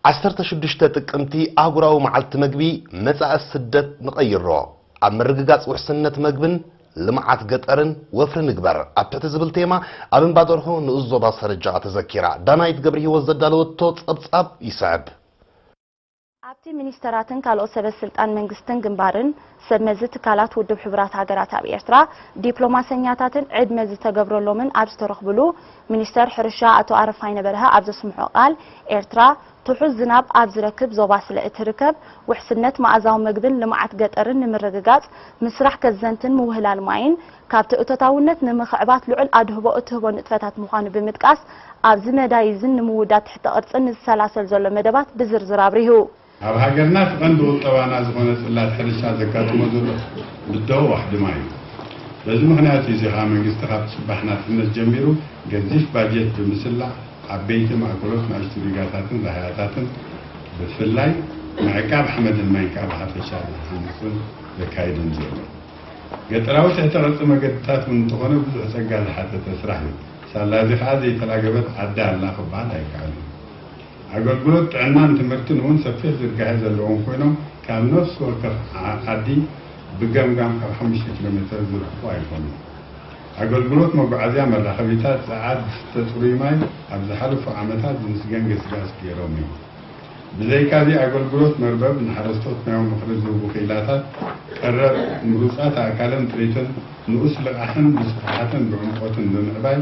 ዓሰርተ ሽዱሽተ ጥቅምቲ ኣህጉራዊ መዓልቲ መግቢ መጻኢ ስደት ንቐይሮ፣ ኣብ ምርግጋጽ ውሕስነት መግብን ልምዓት ገጠርን ወፍሪ ንግበር ኣብ ትሕቲ ዝብል ቴማ ኣብ እምባ ደርሆ ንኡስ ዞባ ሰረጃ ተዘኪራ። ዳናይት ገብርሂወት ዘዳለወቶ ጸብጻብ ይስዕብ። ኣብቲ ሚኒስተራትን ካልኦት ሰበ ስልጣን መንግስትን ግንባርን ሰብ መዚ ትካላት ውድብ ሕቡራት ሃገራት ኣብ ኤርትራ ዲፕሎማሰኛታትን ዕድመ ዝተገብረሎምን ኣብ ዝተረኽብሉ ሚኒስተር ሕርሻ ኣቶ ኣረፋይነ በርሀ ኣብ ዘስምዖ ቃል ኤርትራ ትሑዝ ዝናብ ኣብ ዝረክብ ዞባ ስለ እትርከብ ውሕስነት መኣዛዊ መግብን ልምዓት ገጠርን ንምርግጋጽ ምስራሕ ከዘንትን ምውህላል ማይን ካብቲ እቶታውነት ንምኽዕባት ልዑል ኣድህቦ እትህቦ ንጥፈታት ምዃኑ ብምጥቃስ፣ ኣብዚ መዳይ እዝን ንምውዳድ ትሕተ ቅርጽን ንዝሰላሰል ዘሎ መደባት ብዝርዝር ኣብሪሁ። ኣብ ሃገርና እቲ ቀንዲ ቁጠባና ዝኾነ ጽላት ሕርሻ ዘጋጥሞ ዘሎ ብድሆ ዋሕድማ እዩ። በዚ ምኽንያት እዩ እዚ ከኣ መንግስቲ ካብ ጽባሕ ናጽነት ጀሚሩ ገዚፍ ባጀት ብምስላዕ ዓበይቲ ማእከሎት ናእሽቱ ዲጋታትን ራህያታትን ብፍላይ ምዕቃብ ሓመድን ማይን ከኣ ብሓፈሻ ዝሃንጽን ዘካይድን ዘሎ። ገጠራዊ ትሕተ ቅርጺ መገድታት እውን እንተኾነ ብዙሕ ጸጋ ዝሓተተ ስራሕ እዩ። ሳላ እዚ ከኣ ዘይተላገበት ዓዲ ኣላ ክበሃል ኣይከኣልን። ኣገልግሎት ጥዕናን ትምህርትን እውን ሰፊሕ ዝርጋሔ ዘለዎም ኮይኖም ካብ ነፍሲ ወከፍ ዓዲ ብገምጋም ካብ ሓሙሽተ ኪሎ ሜተር ዝርሕቁ ኣይኮኑን። ኣገልግሎት መጓዓዝያ መራኸቢታት፣ ጸዓት፣ ዝስተ ጽሩይ ማይ ኣብ ዝሓለፉ ዓመታት ዝምስገን ገስጋስ ገይሮም እዮም። ብዘይካ'ዚ ኣገልግሎት መርበብ ንሓረስቶት ናይ ምኽሪ ዝህቡ ክኢላታት ቀረብ፣ ምሩጻት ኣእካልን ጥሪትን፣ ንኡስ ልቓሕን ብስፍሓትን ብዕምቆትን ብምዕባይ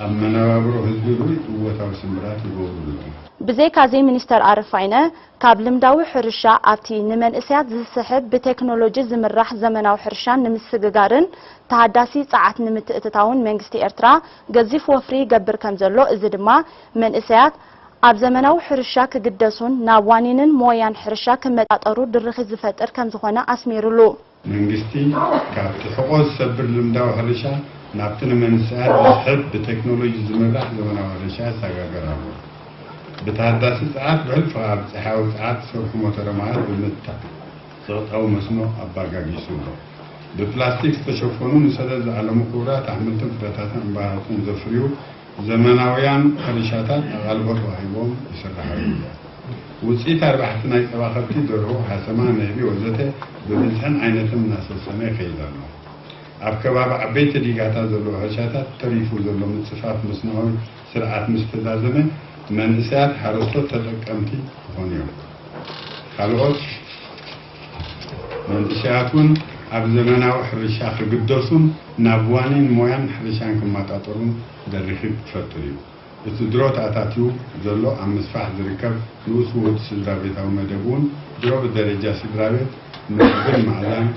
ኣብ መነባብሮ ህዝቢ ርኡይ እወታዊ ስምብራት ይገብሩ ኣለዉ። ብዘይካ'ዚ ሚኒስተር ኣረፋይነ ካብ ልምዳዊ ሕርሻ ኣብቲ ንመንእሰያት ዝስሕብ ብቴክኖሎጂ ዝምራሕ ዘመናዊ ሕርሻን ንምስግጋርን ተሃዳሲ ጸዓት ንምትእትታውን መንግስቲ ኤርትራ ገዚፍ ወፍሪ ይገብር ከምዘሎ እዚ ድማ መንእሰያት ኣብ ዘመናዊ ሕርሻ ክግደሱን ናብ ዋኒንን ሞያን ሕርሻ ክመጣጠሩ ድርኺት ዝፈጥር ከምዝኾነ ኣስሚሩሉ። መንግስቲ ካብቲ ሕቖ ዝሰብር ልምዳዊ ሕርሻ ናብቲ ንመንሰያት ዝስሕብ ብቴክኖሎጂ ዝምራሕ ዘመናዊ ሕርሻ ይሰጋገር ኣሎ። ብተሃዳሲ ጸዓት ውሕድ ፍቓር ጸሓያዊ ጸዓት ዝሰርሑ ሞተረ ማያት ብምትካእ ጸቕጣዊ መስኖ ኣባጋጊሱ ኣሎ። ብፕላስቲክ ዝተሸፈኑ ንሰደድ ዝዓለሙ ኩቡራት ኣሕምልትን ፍረታትን ዕምባባታትን ዘፍርዩ፣ ዘመናውያን ሕርሻታት ኣቓልቦ ተዋሂቦም ይስርሓሉ እየን። ውፅኢት ኣርባሕቲ ናይ ፀባ ከብቲ፣ ደርሆ፣ ሓሰማ፣ ንህቢ ወዘተ ብብዝሕን ዓይነትን እናሰሰነ ይኸይድ ኣሎ። ኣብ ከባቢ ዓበይቲ ዲጋታት ዘለዉ ሕርሻታት ተሪፉ ዘሎ ምፅፋፍ መስኖኣዊ ስርዓት ምስ ተዛዘመ መንእሰያት ሓረስቶት ተጠቀምቲ ክኾኑ እዮም። ካልኦት መንእሰያት እውን ኣብ ዘመናዊ ሕርሻ ክግደሱን ናብ ዋኒን ሞያን ሕርሻን ክማጣጠሩን ደሪኺ ክትፈጥር እዩ። እቲ ድሮ ተኣታትዩ ዘሎ ኣብ ምስፋሕ ዝርከብ ንኡስ ውሁድ ስድራቤታዊ መደብ እውን ድሮ ብደረጃ ስድራቤት መግብን መኣዛን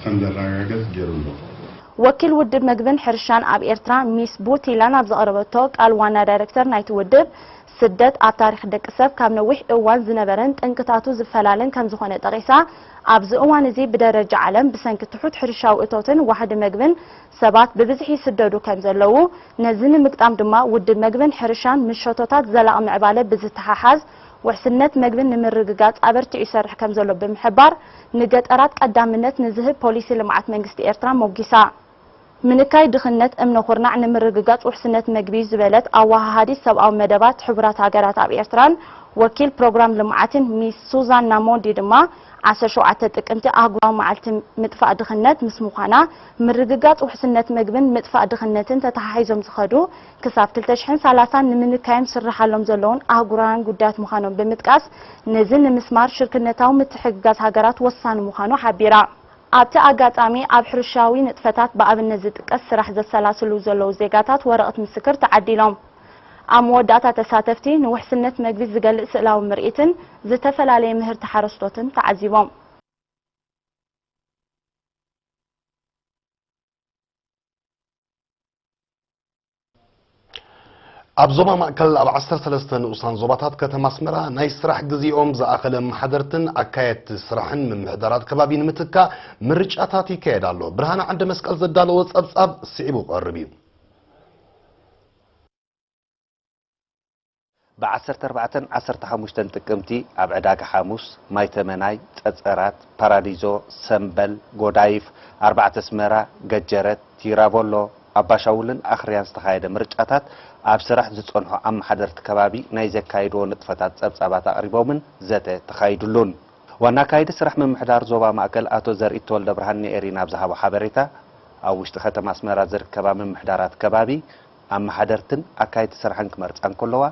ከምዘራጋገጽ ገይሩ ኣሎ። ወኪል ውድብ መግብን ሕርሻን ኣብ ኤርትራ ሚስ ቡቲላን ኣብ ዘቕረበቶ ቃል ዋና ዳይረክተር ናይቲ ውድብ ስደት ኣብ ታሪኽ ደቂ ሰብ ካብ ነዊሕ እዋን ዝነበረን ጠንቅታቱ ዝፈላለን ከምዝኾነ ጠቒሳ፣ ኣብዚ እዋን እዚ ብደረጃ ዓለም ብሰንኪ ትሑት ሕርሻዊ እቶትን ዋሕዲ መግብን ሰባት ብብዝሒ ይስደዱ ከምዘለዉ፣ ነዚ ንምግጣም ድማ ውድብ መግብን ሕርሻን ምስ ሸቶታት ዘላቒ ምዕባለ ብዝተሓሓዝ ውሕስነት መግቢ ንምርግጋፅ ኣበርቲዑ ይሰርሕ ከምዘሎ ብምሕባር፣ ንገጠራት ቀዳምነት ንዝህብ ፖሊሲ ልምዓት መንግስቲ ኤርትራ ሞጒሳ። ምንካይ ድኽነት እምነ ኹርናዕ ንምርግጋፅ ውሕስነት ምግቢ ዝበለት ኣወሃሃዲት ሰብኣዊ መደባት ሕቡራት ሃገራት ኣብ ኤርትራን ወኪል ፕሮግራም ልምዓትን ሚስ ሱዛና ሞንዲ ድማ ዓሰርተ ሸውዓተ ጥቅምቲ ኣህጉራዊ መዓልቲ ምጥፋእ ድኽነት ምስ ምዃና ምርግጋፅ ውሕስነት ምግብን ምጥፋእ ድኽነትን ተተሓሒዞም ዝኸዱ ክሳብ ክልተ ሽሕን ሰላሳን ንምንካዮም ዝስርሓሎም ዘለዉን ኣህጉራውያን ጉዳያት ምዃኖም ብምጥቃስ ነዚ ንምስማር ሽርክነታዊ ምትሕግጋዝ ሃገራት ወሳኒ ምዃኑ ሓቢራ። ኣብቲ ኣጋጣሚ ኣብ ሕርሻዊ ንጥፈታት ብኣብነት ዝጥቀስ ስራሕ ዘሰላስሉ ዘለዉ ዜጋታት ወረቕት ምስክር ተዓዲሎም። ኣብ መወዳእታ ተሳተፍቲ ንውሕስነት መግቢ ዝገልጽ ስእላዊ ምርኢትን ዝተፈላለየ ምህርቲ ሓረስቶትን ተዓዚቦም። ኣብ ዞባ ማእከል ኣብ ዓሰርተ ሰለስተ ንኡሳን ዞባታት ከተማ ኣስመራ ናይ ስራሕ ግዜኦም ዝኣኸለ ኣመሓደርትን ኣካየድቲ ስራሕን ምምሕዳራት ከባቢ ንምትካእ ምርጫታት ይካየድ ኣሎ። ብርሃነ ዓንደ መስቀል ዘዳለዎ ጸብጻብ ስዒቡ ክቐርብ እዩ። ብ ዓሰርተ ኣርባዕተን ዓሰርተ ሓሙሽተን ጥቅምቲ ኣብ ዕዳጋ ሓሙስ፣ ማይ ተመናይ፣ ጸጸራት፣ ፓራዲዞ፣ ሰምበል፣ ጎዳይፍ፣ ኣርባዕተ ኣስመራ፣ ገጀረት፣ ቲራቮሎ፣ ኣባሻውልን ኣኽርያን ዝተኻየደ ምርጫታት ኣብ ስራሕ ዝጸንሑ ኣመሓደርቲ ከባቢ ናይ ዘካይድዎ ንጥፈታት ጸብጻባት ኣቕሪቦምን ዘተ ተኻይድሉን። ዋና ኣካይዲ ስራሕ ምምሕዳር ዞባ ማእከል ኣቶ ዘርኢት ተወልደብርሃን ንኤሪና ኣብ ዝሃቦ ሓበሬታ፣ ኣብ ውሽጢ ከተማ ኣስመራ ዝርከባ ምምሕዳራት ከባቢ፣ ኣመሓደርትን ኣካየድቲ ስራሕን ክመርፃ እንከለዋ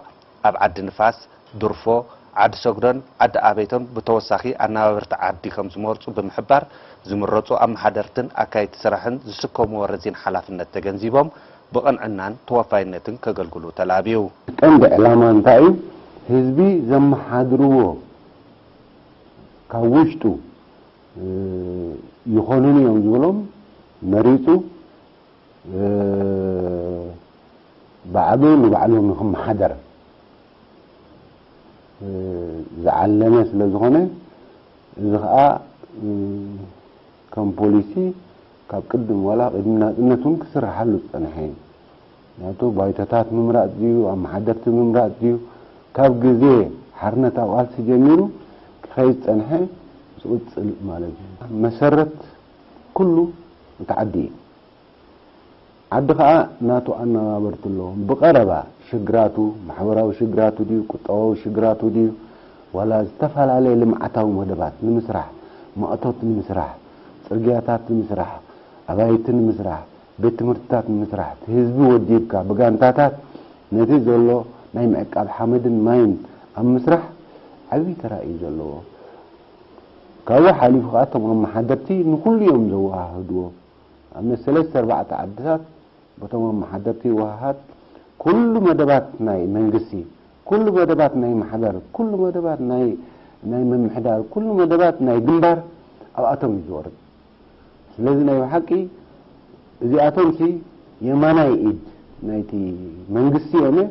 ኣብ ዓዲ ንፋስ፣ ድርፎ፣ ዓዲ ሰግዶን ዓዲ ኣበይቶን ብተወሳኺ ኣነባበርቲ ዓዲ ከምዝመርፁ ብምሕባር ዝምረፁ ኣመሓደርትን ኣካየድቲ ስራሕን ዝስከምዎ ረዚን ሓላፍነት ተገንዚቦም ብቕንዕናን ተወፋይነትን ከገልግሉ ተላብዩ። እቲ ቀንዲ ዕላማ እንታይ እዩ? ህዝቢ ዘመሓድርዎ ካብ ውሽጡ ይኾኑኒ እዮም ዝበሎም መሪፁ ባዕሉ ንባዕሉ ንኽመሓደር ዝዓለመ ስለ ዝኾነ እዚ ኸኣ ከም ፖሊሲ ካብ ቅድም ዋላ ቅድሚ ናጽነት እውን ክስርሓሉ ዝጸንሐ እዩ ምክንያቱ ባይቶታት ምምራጽ ድዩ ኣመሓደርቲ ምምራጽ ድዩ ካብ ግዜ ሓርነታዊ ቃልሲ ጀሚሩ ክኸይድ ዝጸንሐ ዝቕጽል ማለት እዩ መሰረት ኩሉ እቲ ዓዲ እዩ ዓዲ ከኣ ናቱ ኣናባበርቱ ኣለዎም ብቀረባ ሽግራቱ ማሕበራዊ ሽግራቱ ድዩ ቁጠባዊ ሽግራቱ ድዩ ዋላ ዝተፋላለየ ልምዓታዊ መደባት ንምስራሕ ማእቶት ንምስራሕ ጽርግያታት ንምስራሕ ኣባይቲ ንምስራሕ ቤት ትምህርትታት ንምስራሕ እቲ ህዝቢ ወዲብካ ብጋንታታት ነቲ ዘሎ ናይ ምዕቃብ ሓመድን ማይን ኣብ ምስራሕ ዓቢ ተራ እዩ ዘለዎ ካብኡ ሓሊፉ ከኣ እቶም ኣመሓደርቲ ንኹሉ እዮም ዘወሃህድዎ። ኣብነት ሰለስተ ኣርባዕተ ዓድታት በቶም ኣመሓደርቲ ይወሃሃድ። ኩሉ መደባት ናይ መንግስቲ፣ ኩሉ መደባት ናይ ማሕበር፣ ኩሉ መደባት ናይ ናይ ምምሕዳር፣ ኩሉ መደባት ናይ ግንባር ኣብኣቶም እዩ ዝወርድ። ስለዚ ናይ ብሓቂ እዚኣቶምሲ የማናይ ኢድ ናይቲ መንግስቲ እዮም'የ።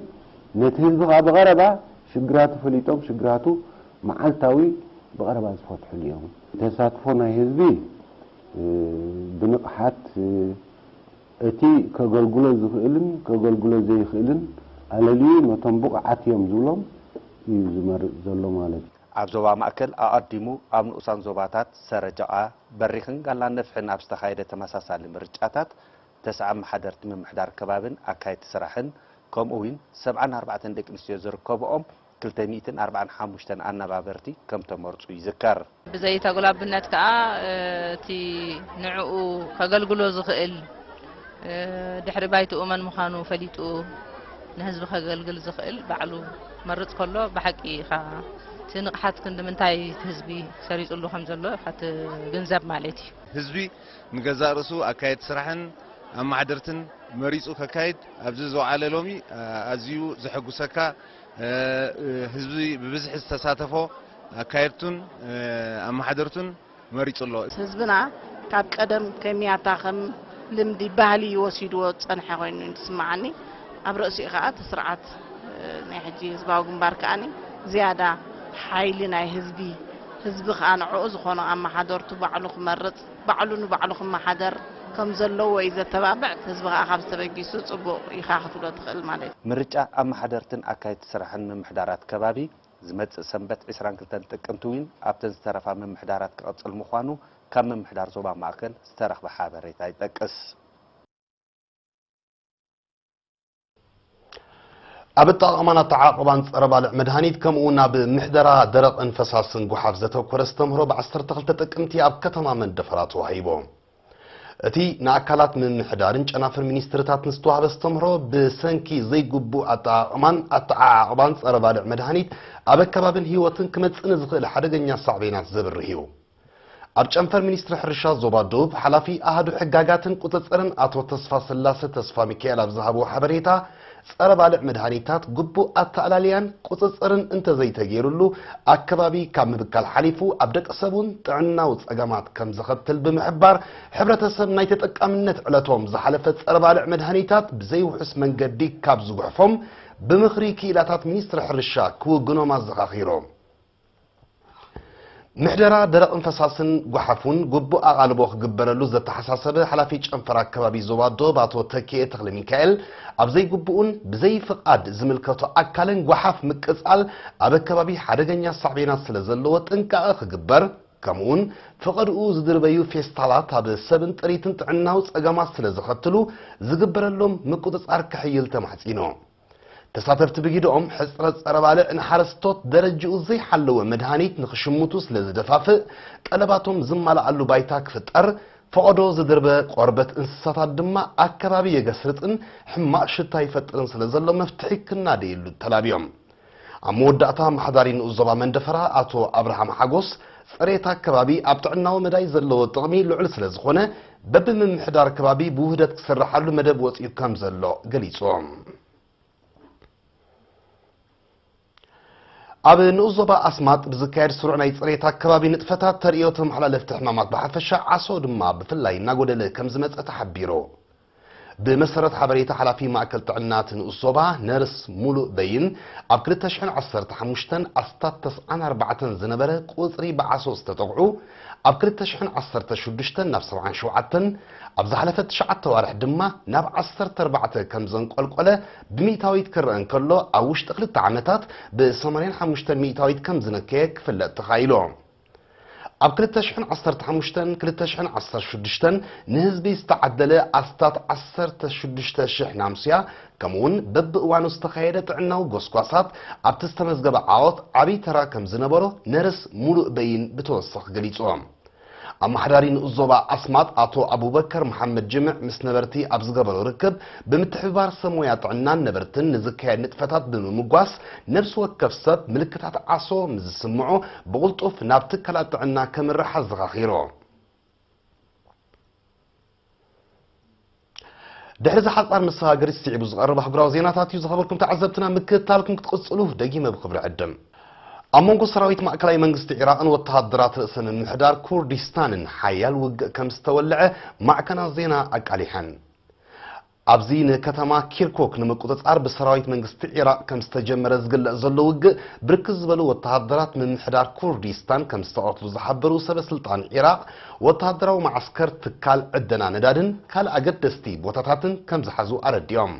ነቲ ህዝቢ ከኣ ብቐረባ ሽግራቱ ፈሊጦም ሽግራቱ መዓልታዊ ብቐረባ ዝፈትሑን እዮም። ተሳትፎ ናይ ህዝቢ ብንቕሓት እቲ ከገልግሎ ዝኽእልን ከገልግሎ ዘይኽእልን ኣለልዩ ነቶም ብቑዓት እዮም ዝብሎም እዩ ዝመርጽ ዘሎ ማለት እዩ። ኣብ ዞባ ማእከል ኣቐዲሙ ኣብ ንኡሳን ዞባታት ሰረጀቓ፣ በሪኽን ጋላ ነፍሒን ኣብ ዝተኻየደ ተመሳሳሊ ምርጫታት ተስዓ ኣመሓደርቲ ምምሕዳር ከባቢን ኣካየድቲ ስራሕን ከምኡ'ውን ሰብዓን ኣርባዕተን ደቂ ኣንስትዮ ዝርከበኦም ክልተ ሚእትን ኣርባዓን ሓሙሽተን ኣነባበርቲ ከም ተመርጹ ይዝከር። ብዘይ ተጉላብነት ከኣ እቲ ንዕኡ ከገልግሎ ዝኽእል ድሕሪ ባይትኡ መን ምዃኑ ፈሊጡ ንህዝቢ ከገልግል ዝኽእል ባዕሉ ክመርጽ ከሎ ብሓቂ ኢኻ እቲ ንቕሓት ክንድምንታይ እቲ ህዝቢ ሰሪጽሉ ከም ዘሎ ኢኻ ትግንዘብ ማለት እዩ። ህዝቢ ንገዛእ ርእሱ ኣካየድቲ ስራሕን ኣማሓደርትን መሪጹ ከካይድ ኣብዚ ዝወዓለ ሎሚ ኣዝዩ ዘሐጉሰካ ህዝቢ ብብዝሒ ዝተሳተፎ ኣካየድቱን ኣመሓደርቱን መሪጹ ኣሎ። ህዝብና ካብ ቀደም ከሚያታ ከም ልምዲ፣ ባህሊ፣ ወሲድዎ ዝጸንሐ ኮይኑ እዩ ዝስመዓኒ። ኣብ ርእሲኡ ከኣ እቲ ስርዓት ናይ ሕጂ ህዝባዊ ግንባር ከኣ ዝያዳ ሓይሊ ናይ ህዝቢ፣ ህዝቢ ከኣ ንዕኡ ዝኾኖ ኣመሓደርቱ ባዕሉ ክመርጽ፣ ባዕሉ ንባዕሉ ክመሓደር ከም ዘለዎ እዩ ዘተባብዕ። ህዝቢ ከኣ ካብዚ ተበጊሱ ጽቡቕ ኢኻ ክትብሎ ትኽእል ማለት እዩ። ምርጫ ኣመሓደርትን ኣካየድቲ ስራሕን ምምሕዳራት ከባቢ ዝመጽእ ሰንበት ዕስራን ክልተን ጥቅምቲ እውን ኣብተን ዝተረፋ ምምሕዳራት ክቕጽል ምዃኑ ካብ ምምሕዳር ዞባ ማእከል ዝተረኽበ ሓበሬታ ይጠቅስ። ኣብ ኣጠቓቕማን ኣተዓቕባን ፀረ ባልዕ መድሃኒት ከምኡ እውን ኣብ ምሕደራ ደረቕን ፈሳስን ጉሓፍ ዘተኮረ ኣስተምህሮ ብ12 ጥቅምቲ ኣብ ከተማ መንደፈራ ተዋሂቦ። እቲ ንኣካላት ምምሕዳርን ጨናፍር ሚኒስትርታትን ዝተዋህበ ኣስተምህሮ ብሰንኪ ዘይግቡእ ኣጠቓቕማን ኣተዓዓቕባን ፀረ ባልዕ መድሃኒት ኣብ ኣከባብን ህይወትን ክመፅእ ንዝኽእል ሓደገኛ ሳዕቤናት ዘብርህ እዩ። ኣብ ጨንፈር ሚኒስትሪ ሕርሻ ዞባ ዶብ ሓላፊ ኣሃዱ ሕጋጋትን ቁፅፅርን ኣቶ ተስፋስላሰ ተስፋሚካኤል ኣብ ዝሃብዎ ሓበሬታ ፀረ ባልዕ መድሃኒታት ግቡእ ኣተኣላልያን ቁፅፅርን እንተዘይተገይሩሉ ኣከባቢ ካብ ምብካል ሓሊፉ ኣብ ደቂ ሰብ እውን ጥዕናዊ ፀገማት ከም ዘኸትል ብምሕባር ሕብረተሰብ ናይ ተጠቃምነት ዕለቶም ዝሓለፈ ፀረ ባልዕ መድሃኒታት ብዘይውሑስ መንገዲ ካብ ዝጉሕፎም ብምኽሪ ክኢላታት ሚኒስትሪ ሕርሻ ክውግኖም ኣዘኻኺሮም። ምሕደራ ደረቕን ፈሳስን ጓሓፍ እውን ግቡእ ኣቓልቦ ክግበረሉ ዘተሓሳሰበ ሓላፊ ጨንፈር ኣከባቢ ዞባ ዶብ ኣቶ ተኪኤ ተክለሚካኤል ኣብ ዘይግቡእን ብዘይፍቓድ ዝምልከቶ ኣካልን ጓሓፍ ምቅፃል ኣብ ኣከባቢ ሓደገኛ ሳዕቤናት ስለ ዘለዎ ጥንቃቐ ክግበር ከምኡውን ፍቐድኡ ዝድርበዩ ፌስታላት ኣብ ሰብን ጥሪትን ጥዕናዊ ፀገማት ስለ ዘኸትሉ ዝግበረሎም ምቁፅፃር ክሕይል ተማሕፂኑ። ተሳተፍቲ ብጊደኦም ሕፅረት ፀረ ባልዕ ንሓረስቶት ደረጅኡ ዘይሓለወ መድሃኒት ንክሽምቱ ስለ ዝደፋፍእ ጠለባቶም ዝማልኣሉ ባይታ ክፍጠር ፈቐዶ ዝድርበ ቆርበት እንስሳታት ድማ ኣከባቢ የገስርፅን ሕማቕ ሽታ ይፈጥርን ስለ ዘሎ መፍትሒ ክናደየሉ ተላብዮም። ኣብ መወዳእታ ኣመሓዳሪ ንኡስ ዞባ መንደፈራ ኣቶ ኣብርሃም ሓጎስ ፅሬት ኣከባቢ ኣብ ጥዕናዊ መዳይ ዘለዎ ጥቕሚ ልዑል ስለዝኾነ በቢምምሕዳር ከባቢ ብውህደት ክስርሓሉ መደብ ወፂኡ ከምዘሎ ገሊፆም። ኣብ ንኡስ ዞባ ኣስማጥ ብዝካየድ ስሩዕ ናይ ፅሬት ኣከባቢ ንጥፈታት ተርእዮ ተመሓላለፍቲ ሕማማት ብሓፈሻ ዓሶ ድማ ብፍላይ እናጎደለ ከምዝመፀ ተሓቢሩ። ብመሰረት ሓበሬታ ሓላፊ ማእከል ጥዕና እቲ ንኡስ ዞባ ነርስ ሙሉእ በይን፣ ኣብ ክልተ ሽሕን ዓሰርተ ሓሙሽተን ኣስታት ተስዓን ኣርባዕተን ዝነበረ ቁጽሪ ብዓሶ ዝተጠቕዑ ኣብ ክልተ ሽሕን ዓሰርተ ሽዱሽተን ናብ ሰብዓን ሸውዓተን፣ ኣብ ዝሓለፈ ትሽዓተ ኣዋርሕ ድማ ናብ ዓሰርተ ኣርባዕተ ከምዘንቆልቆለ ብሚእታዊት ክረኣ እንከሎ ኣብ ውሽጢ ክልተ ዓመታት ብሰማንያን ሓሙሽተን ሚእታዊት ከምዝነከየ ክፍለጥ ተኻኢሉ። ኣብ ክልተ ሽሕን ዓሰርተ ሓሙሽተን ክልተ ሽሕን ዓሰርተ ሽዱሽተን ንህዝቢ ዝተዓደለ ኣስታት ዓሰርተ ሽዱሽተ ሽሕ ናምስያ ከምኡውን በብእዋኑ ዝተኻየደ ጥዕናዊ ጎስጓሳት ኣብቲ ዝተመዝገበ ዓወት ዓብይ ተራ ከም ዝነበሮ ነርስ ሙሉእ በይን ብተወሳኺ ገሊፆም። ኣመሓዳሪ ንኡስ ዞባ ኣስማጥ ኣቶ ኣቡበከር መሓመድ ጅምዕ ምስ ነበርቲ ኣብ ዝገበሮ ርክብ ብምትሕብባር ሰብ ሞያ ጥዕናን ነበርትን ንዝካየድ ንጥፈታት ብምምጓስ ነብሲ ወከፍ ሰብ ምልክታት ዓሶ ምስ ዝስምዖ ብቕልጡፍ ናብ ትካላት ጥዕና ከምርሕ ኣዘኻኺሩ። ድሕሪ እዚ ሓጻር መሰጋገሪ ስዒቡ ዝቐርብ ኣህጉራዊ ዜናታት እዩ። ዝኸበርኩም ተዓዘብትና ምክትታልኩም ክትቕጽሉ ደጊመ ብኽብሪ ዕድም። ኣብ መንጎ ሰራዊት ማእከላይ መንግስቲ ዒራቕን ወተሃደራት ርእሰ ምምሕዳር ኩርዲስታንን ሓያል ውግእ ከም ዝተወልዐ ማዕከናት ዜና ኣቃሊሐን። ኣብዚ ንከተማ ኪርኩክ ንምቁጽጻር ብሰራዊት መንግስቲ ዒራቕ ከም ዝተጀመረ ዝግለጽ ዘሎ ውግእ፣ ብርክት ዝበሉ ወተሃደራት ምምሕዳር ኩርዲስታን ከም ዝተቐትሉ ዝሓበሩ ሰበስልጣን ዒራቕ፣ ወተሃደራዊ መዓስከር፣ ትካል ዕደና ነዳድን ካልእ ኣገደስቲ ቦታታትን ከም ዝሓዙ ኣረዲኦም።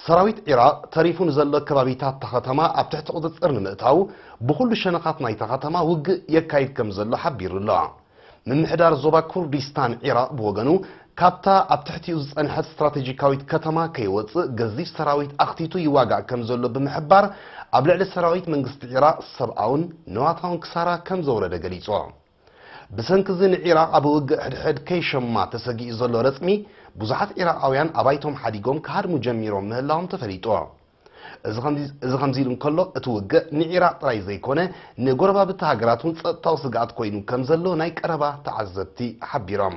ሰራዊት ዒራቕ ተሪፉ ንዘሎ ከባቢታት'ታ ከተማ ኣብ ትሕቲ ቁጽጽር ንምእታው፣ ብኹሉ ሸነኻት ናይታ ከተማ ውግእ የካይድ ከም ዘሎ ሓቢሩ'ሎ። ምምሕዳር ዞባ ኩርዲስታን ዒራቕ ብወገኑ፣ ካብታ ኣብ ትሕቲኡ ዝጸንሐት ስትራተጂካዊት ከተማ ከይወጽእ ገዚፍ ሰራዊት ኣኽቲቱ ይዋጋእ ከምዘሎ ብምሕባር፣ ኣብ ልዕሊ ሰራዊት መንግስቲ ዒራቕ ሰብኣውን ንዋታውን ክሳራ ከምዘውረደ ገሊጹ። ብሰንኪ'ዚ ንዒራቕ ኣብ ውግእ ሕድሕድ ከይሸማ ተሰጊኡ ዘሎ ረጽሚ፣ ብዙሓት ዒራቓውያን ኣባይቶም ሓዲጎም ክሃድሙ ጀሚሮም ምህላዎም ተፈሊጡ። እዚ ከምዚ ኢሉ እንከሎ እቲ ውግእ ንዒራቕ ጥራይ ዘይኮነ ንጎረባብቲ ሃገራት እውን ጸጥታዊ ስግኣት ኮይኑ ከምዘሎ ናይ ቀረባ ተዓዘብቲ ሓቢሮም።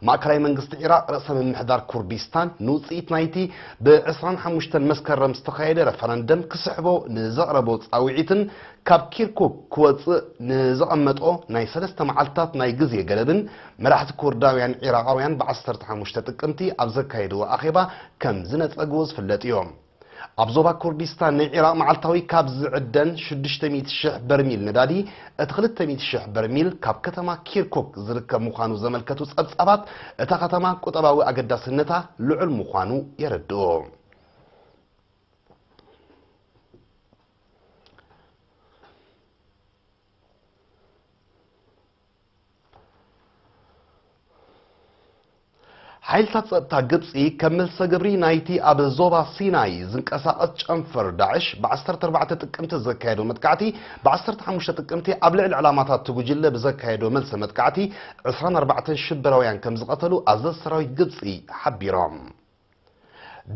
ማእከላይ መንግስቲ ዒራቕ ርእሰ ምምሕዳር ኩርዲስታን ንውጽኢት ናይቲ ብ ዕስራን ሓሙሽተን መስከረም ዝተኻየደ ረፈረንደም ክስሕቦ ንዘቕረቦ ጻውዒትን ካብ ኪርኩክ ክወጽእ ንዘቐመጦ ናይ ሰለስተ መዓልታት ናይ ግዜ ገደብን መራሕቲ ኩርዳውያን ዒራቓውያን ብ ዓሰርተ ሓሙሽተ ጥቅምቲ ኣብ ዘካየድዎ ኣኼባ ከም ዝነጸግዎ ዝፍለጥዮ። ኣብ ዞባ ኩርዲስታን ናይ ዒራቕ መዓልታዊ ካብ ዝዕደን ሽዱሽተ ሚእቲ ሽሕ በርሚል ነዳዲ እቲ ክልተ ሚእቲ ሽሕ በርሚል ካብ ከተማ ኪርኩክ ዝርከብ ምዃኑ ዘመልከቱ ጸብጻባት እታ ከተማ ቁጠባዊ ኣገዳስነታ ልዑል ምዃኑ የረድኡ። ሓይልታት ጸጥታ ግብፂ ከም መልሰ ግብሪ ናይቲ ኣብ ዞባ ሲናይ ዝንቀሳቐስ ጨንፈር ዳዕሽ ብ14 ጥቅምቲ ዘካየዶ መጥቃዕቲ ብ15 ጥቅምቲ ኣብ ልዕሊ ዕላማታት እቲ ጉጅለ ብዘካየዶ መልሰ መጥቃዕቲ 24 ሽበራውያን ከም ዝቐተሉ ኣዘዝ ሰራዊት ግብፂ ሓቢሮም።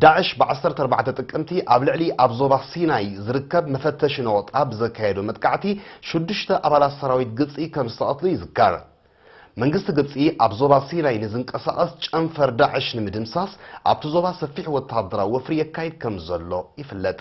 ዳዕሽ ብ ዓሰርተ ኣርባዕተ ጥቅምቲ ኣብ ልዕሊ ኣብ ዞባ ሲናይ ዝርከብ መፈተሺ ነቖጣ ብዘካየዶ መጥቃዕቲ ሽዱሽተ ኣባላት ሰራዊት ግብፂ ከምዝተቐትሉ ይዝከር። መንግስቲ ግብፂ ኣብ ዞባ ሲናይ ንዝንቀሳቐስ ጨንፈር ዳዕሽ ንምድምሳስ ኣብቲ ዞባ ሰፊሕ ወተሃደራዊ ወፍሪ የካይድ ከምዘሎ ይፍለጥ።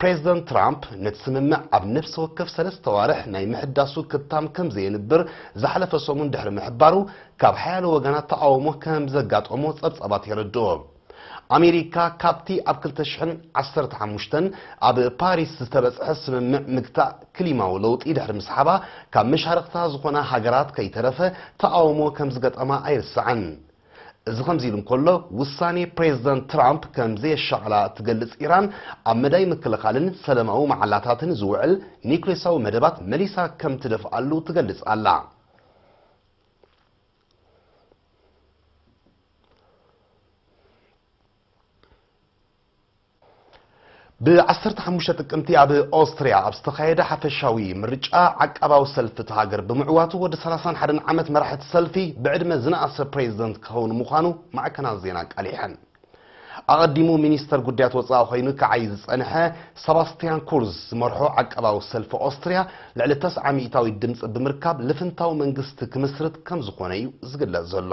ፕሬዝደንት ትራምፕ ነቲ ስምምዕ ኣብ ነፍሲ ወከፍ ሰለስተ ኣዋርሕ ናይ ምሕዳሱ ክታም ከምዘየንብር ዝሓለፈ ሰሙን ድሕሪ ምሕባሩ ካብ ሓያሎ ወገናት ተቓውሞ ከምዘጋጠሞ ጸብጻባት የረድኡ። ኣሜሪካ ካብቲ ኣብ ክልተ ሽሕን ዓሰርተ ሓሙሽተን ኣብ ፓሪስ ዝተበጽሐ ስምምዕ ምግታእ ክሊማዊ ለውጢ ድሕሪ ምስሓባ ካብ መሻርኽታ ዝኾና ሃገራት ከይተረፈ ተቓውሞ ከምዝገጠማ ኣይርሳዕን። እዚ ከምዚሉ እንከሎ፣ ውሳኔ ፕሬዝደንት ትራምፕ ከም ዘየሻቕላ እትገልጽ ኢራን፣ ኣብ መዳይ ምክልኻልን ሰለማዊ መዓላታትን ዝውዕል ኒዩክሌሳዊ መደባት መሊሳ ከም ትደፍኣሉ ትገልጽ ኣላ። ብዓሰርተ ሓሙሽተ ጥቅምቲ ኣብ ኦስትሪያ ኣብ ዝተኻየደ ሓፈሻዊ ምርጫ ዓቃባዊ ሰልፊ እቲ ሃገር ብምዕዋቱ ወዲ ሰላሳን ሓደን ዓመት መራሒ እቲ ሰልፊ ብዕድመ ዝነኣሰ ፕሬዚደንት ክኸውን ምዃኑ ማዕከናት ዜና ኣቃሊሐን። ኣቐዲሙ ሚኒስተር ጉዳያት ወጻኢ ኮይኑ ክዓይ ዝጸንሐ ሰባስትያን ኩርዝ ዝመርሖ ዓቃባዊ ሰልፊ ኦስትሪያ ልዕሊ ተስዓ ሚእታዊት ድምጺ ብምርካብ ልፍንታዊ መንግስቲ ክምስርት ከም ዝኾነ እዩ ዝግለጽ ዘሎ።